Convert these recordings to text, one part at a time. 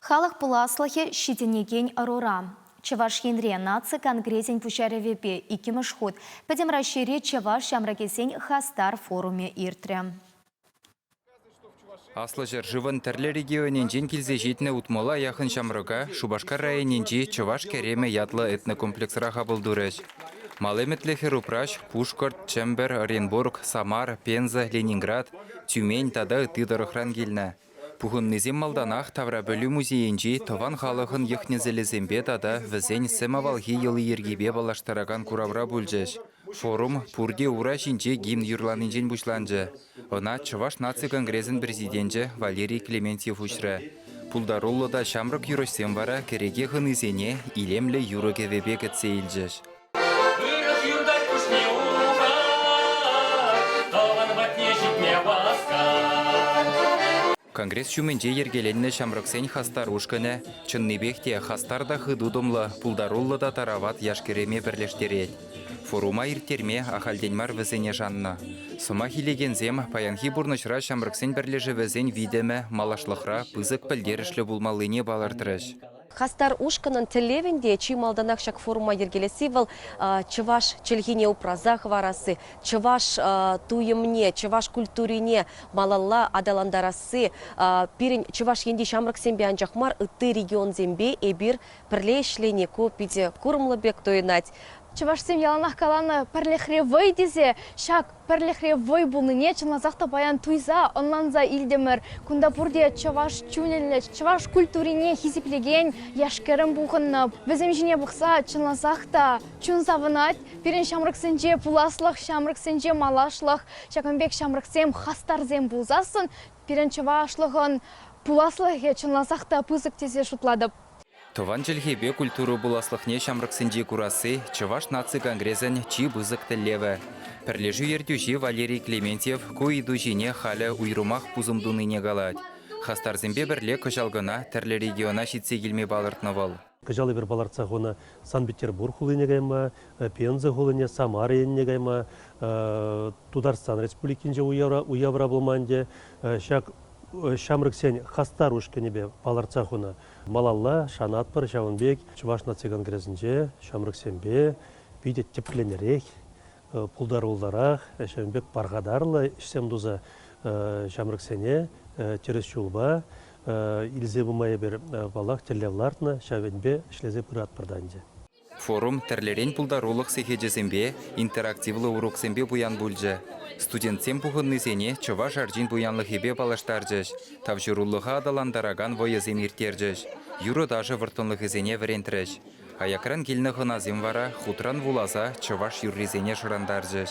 Халӑх пуласлӑхӗ ҫитӗнекен ӑрура. Чӑваш Енре наци конгресӗн пуҫарӑвӗпе иккӗмӗш хут Пӗтӗм Раҫҫейри чӑваш ҫамрӑкӗсен хастар форумӗ иртрӗ. Аслӑ ҫӗршывӑн тӗрлӗ регионӗнчен килсе ҫитнӗ утмӑла яхӑн ҫамрӑка Шупашкар районӗнчи Чӑваш Кӗремӗ ятлӑ этнокомплексра хапӑл турӗҫ. Мал ӗмӗтлӗ хӗр упраҫ Пушкӑрт, Чӗмпӗр, Оренбург, Самар, Пенза, Ленинград, Тюмень тата ытти тӑрӑхран килнӗ. Пухӑннисем малтанах Таврапӗлӳ музейӗнчи тӑван халӑхӑн йӑх-несӗлӗсемпе тата вӗсен сӗм авалхи йӑли-йӗркипе паллаштаракан куравра пулчӗҫ. Форум пурте ура ҫинче гимн юрланинчен пуҫланчӗ. Ӑна Чӑваш наци конгресӗн президенчӗ Валерий Клементьев уҫрӗ. Пултаруллӑ та ҫамрӑк юрӑҫсем вара кӗреке хӑнисене илемлӗ юрӑ-кӗвӗпе кӗтсе илчӗҫ. Вырӑс юртать пуҫне ухать, тӑван патне ҫитме васкать. Конгресс ҫумӗнче йӗркеленнӗ ҫамрӑксен хастар ушкӑнӗ чӑннипех те хастар та хытутӑмлӑ, пултаруллӑ та тарават яш-кӗрӗме пӗрлештерет. Форума ирттерме ахальтен мар вӗсене шаннӑ. Сӑмах илекенсем паянхи пурнӑҫра ҫамрӑксен пӗрлешӗвӗсен витӗмӗ малашлӑхра пысӑк пӗлтерӗшлӗ пулмаллине палӑртрӗҫ. Хастар ушкӑнӑн тӗллевӗн те чи малтанах ҫак форума йӗркелесси вӑл, чӑваш чӗлхине упраса хӑварасси, чӑваш туйӑмне, чӑваш культурине малалла аталантарасси. Пирӗн Чӑваш Енти ҫамрӑксемпе анчах мар, ытти регионсемпе эпир пӗрле ӗҫлени ку питӗ курӑмлӑ пек туйӑнать. Чӑвашсем яланах каланӑ, пӗрлӗхре вӑй тесе ҫак Пӗрлӗхре вӑй пулнине чӑнласах та паян туйса, ӑнланса илтӗмӗр. Кунта пурте чӑваш чунӗллӗ, чӑваш культурине хисеплекен яш-кӗрӗм пухӑннӑ. Вӗсем ҫине пӑхса, чӑнласах та, чун савӑнать. Пирӗн ҫамрӑксенче пуласлӑх, ҫамрӑксенче малашлӑх, ҫакӑн пек ҫамрӑксем хастарсем пулсассӑн, пирӗн чӑвашлӑхӑн пуласлӑхӗ чӑнласах та пысӑк тесе шутлатӑп. Тӑван чӗлхепе культура пуласлӑхне ҫамрӑксенче курасси Чӑваш наци конгресӗн чи пысӑк тӗллевӗ. Пӗрлешӳ ертӳҫи Валерий Клементьев ку ыйту ҫине халӗ уйрӑмах пусӑм тунине калать. Хастарсемпе пӗрле кӑҫал кӑна тӗрлӗ региона ҫитсе килме палӑртнӑ вӑл. Кӑҫал эпир палӑртса хунӑ Санкт-Петербург хулине кайма, Пенза хулине, Самара енне кайма, Тутарстан Республикинче уявра пулма ӗнтӗ ҫак ҫамрӑксен хастар ушкӑнӗпе палӑртса хунӑ. Малалла шанатпӑр ҫавӑн пек Чӑваш наци конгресӗнче ҫамрӑксемпе питӗ тӗпленерех, пултаруллӑрах, ҫавӑн пек пархатарлӑ ӗҫсем туса ҫамрӑксене тӗрӗс ҫулпа илсе пыма эпир паллах тӗллев лартнӑ, ҫав енпе ӗҫлесе пыратпӑр та ӗнтӗ. Форум тӗрлӗрен пултарулӑх сехечӗсемпе, интерактивлӑ уроксемпе пуян пулчӗ. Студентсем пухӑннисене чӑваш арчин пуянлӑхӗпе паллаштарчӗҫ, тавҫӑрулӑха аталантаракан вӑйӑсем ирттерчӗҫ, юрӑ-ташӑ вӑрттӑнлӑхӗсене вӗрентрӗҫ. Аякран килнӗ хӑнасем вара хутран вуласа чӑваш юррисене шӑрантарчӗҫ.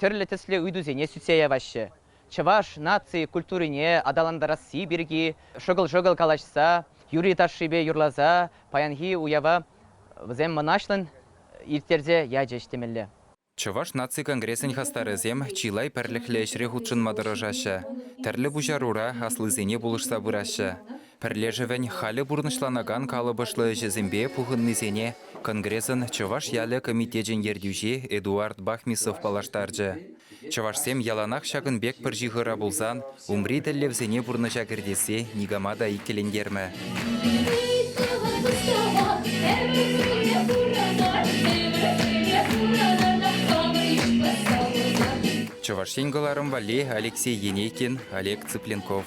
тӗрлӗ тӗслӗ ыйтусене сӳтсе яваҫҫӗ, чӑваш наци культурине аталантарасси пирки шӑкӑл-шӑкӑл калаҫса, юрри-ташшипе юрласа паянхи уява вӗсем мӑнаҫлӑн ирттерсе ячӗҫ темелле. Чӑваш наци конгресӗн хастарӗсем чылай пӗрлӗхлӗ ӗҫре хутшӑнма тӑрӑшаҫҫӗ, тӗрлӗ пуҫарура аслисене пулӑшса пыраҫҫӗ. Пӗрлешӗвӗн халӗ пурнӑҫланакан калӑпӑшлӑ ӗҫӗсемпе пухӑннисене Конгресӑн Чӑваш ялӗ комитечӗн ертӳҫи Эдуард Бахмисов паллаштарчӗ. Чӑвашсем яланах ҫакӑн пек пӗр ҫыхӑра пулсан умри тӗллевсене пурнӑҫа кӗртессе никама та иккӗлентермӗ. Чӑваш Ен кӑларӑм валли Алексей Енейкин, Олег Цыпленков.